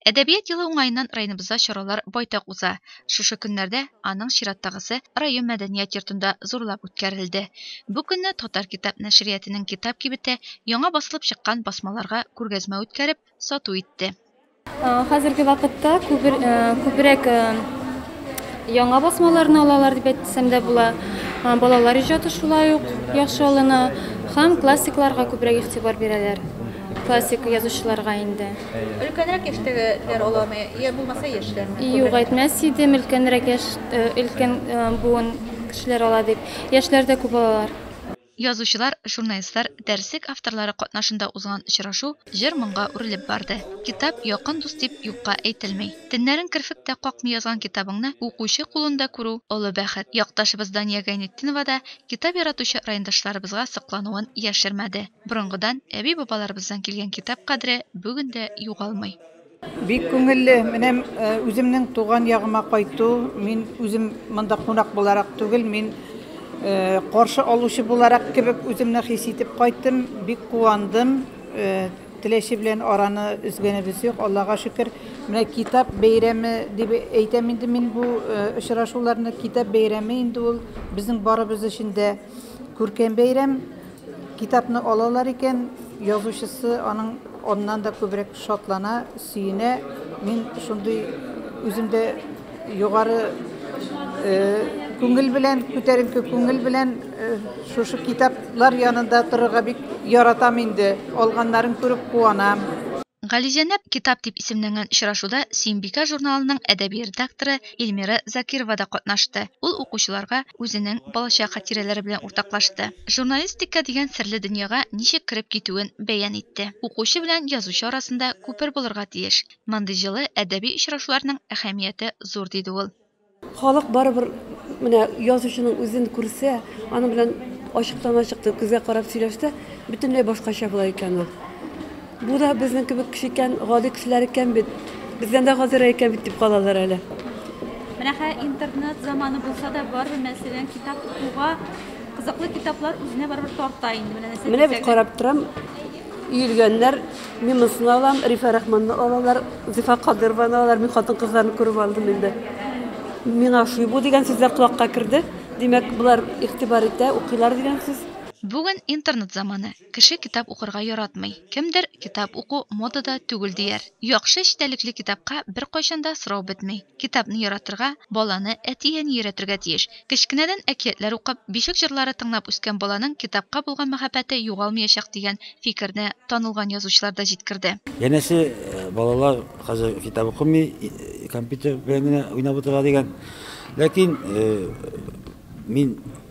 Әдәбият елы уңаеннан районыбызда чаралар байтак уза. Шушы көннәрдә аның чираттагысы район мәдәният йортында зурлап үткәрелде. Бу көнне Татар китап нәшриятының китап кибете яңа басылып чыккан басмаларга күргәзмә үткәреп, сату итте. Хәзерге вакытта күбрәк яңа басмаларны алалар дип әйтсәм дә була. Балалар иҗаты шулай ук яхшы алына һәм классикларга күбрәк игътибар бирәләр. Классик язучыларга инде. Өлкәнрәк яшьтәгеләр аламы, я булмаса яшьләрме? Юк, әйтмәс идем, өлкәнрәк яшь, э, өлкән э, буын кешеләр ала дип. Яшьләр дә күп алалар. Язучылар, журналистлар, дәреслек авторлары катнашында узган очрашу җыр-моңга үрелеп барды. Китап, якын дус дип юкка әйтелми. Теннәрен керфек тә какмый язган китабыңны укучы кулында күрү, олы бәхет. Якташыбыз Дания Гайнетдинова да китап яратучы райондашларыбызга соклануын яшермәде. Борынгыдан, әби-бабаларыбыздан килгән китап кадере бүген дә югалмый. Бик күңелле, менә үземнең туган ягыма кайту, мин үзем монда кунак буларак түгел, мин каршы алучы буларак кебек үземне хис итеп кайттым, бик куандым, Теләче белән араны өзгәнебез юк, Аллага шөкер. Менә китап бәйрәме дип әйтәм инде мин бу очрашуларны, китап бәйрәме инде ул безнең барыбыз өчен дә күркәм бәйрәм. Китапны алалар икән, язучысы аның аннан да күбрәк шатлана, сөенә. Мин шундый үзем дә югары күңел белән, күтәренке күңел белән шушы китаплар янында торырга бик яратам инде. Алганнарын күреп куанам. Гализәнәп китап дип исемләнгән очрашуда Сөембикә журналының әдәби редакторы Эльмира Закирова да катнашты. Ул укучыларга үзенең балачак хатирәләре белән уртаклашты. Журналистика дигән серле дөньяга ничек кереп китүен бәян итте. Укучы белән язучы арасында күпер булырга тиеш. Мондый җылы әдәби очрашуларның әһәмияте зур, диде ул. Халык барыбер менә язучының үзен күрсә, аның белән ачыктан-ачык күзгә карап сөйләшсә, бөтенләй башкача була икән ул. Бу да безнең кебек кеше икән, гади кешеләр икән бит. Бездән дә гадирәк икән бит, дип калалар әле. Менә хә интернет заманы булса да, барыбер мәсәлән, китап укуга кызыклы китаплар үзенә барыбер тарта инде. Менә нәрсә Менә бит карап торам, иелгәннәр, мин монсын алам, Рифа Рахманны алалар, Зифа Кадырованы алалар, мин хатын-кызларны күреп алдым инде. Миңа шуй бу дигән сүз дә колакка керде. Димәк, болар игътибар итә, укыйлар дигән сүз. Бүген интернет заманы. Кеше китап укырга яратмый. Кемдер, китап уку модада түгел дияр. Яхшы эчтәлекле китапка беркайчан да сорау бетми. Китапны яратырга, баланы әти-әни өйрәтергә тиеш. Кечкенәдән әкиятләр укып, бишек җырлары тыңлап үскән баланың китапка булган мәхәббәте югалмыячак дигән фикерне танылган язучылар да җиткерде. Янәсе, балалар хәзер китап укымый, компьютер белән генә уйнап утыра дигән. Ләкин мин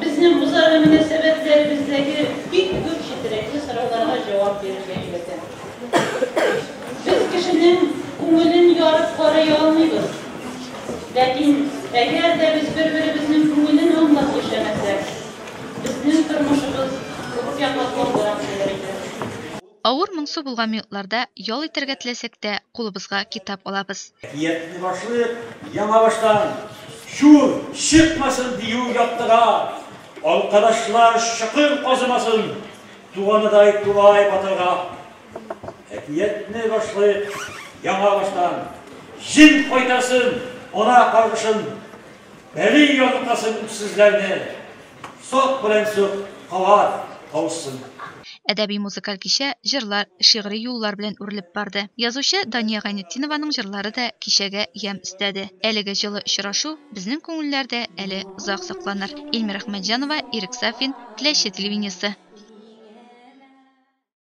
Безнең үзара мөнәсәбәтләребездәге бик күп четерекле сорауларга җавап бирергә өйрәтә. Без кешенең күңелен ярып карый алмыйбыз. Ләкин әгәр дә без бер-беребезнең күңелен аңлап яшәмәсәк, безнең тормышыбыз күпкә катлаулырак булыр иде. Авыр, моңсу булган минутларда ял итәргә теләсәк тә, кулыбызга китап алабыз. Әкиятне башлыйк, яңа баштан чур чыкмасын дию яктыга, алкадашлар чокыр казымасын, туганыдай тулай батырга. Әкиятне башлыйк, яңа баштан җен кайтарсын ана каргышын, бәли яныкасын үксезләрне, Сак белән сок калар калсын. Әдәби-музыкаль кичә җырлар, шигъри юллар белән үрелеп барды. Язучы Дания Гайнетдинованың җырлары да кичәгә ямь өстәде. Әлеге җылы очрашу безнең күңелләрдә әле озак сакланыр. Ильмира Әхмәтҗанова, Ирек Сафин, Теләче телевидениесе.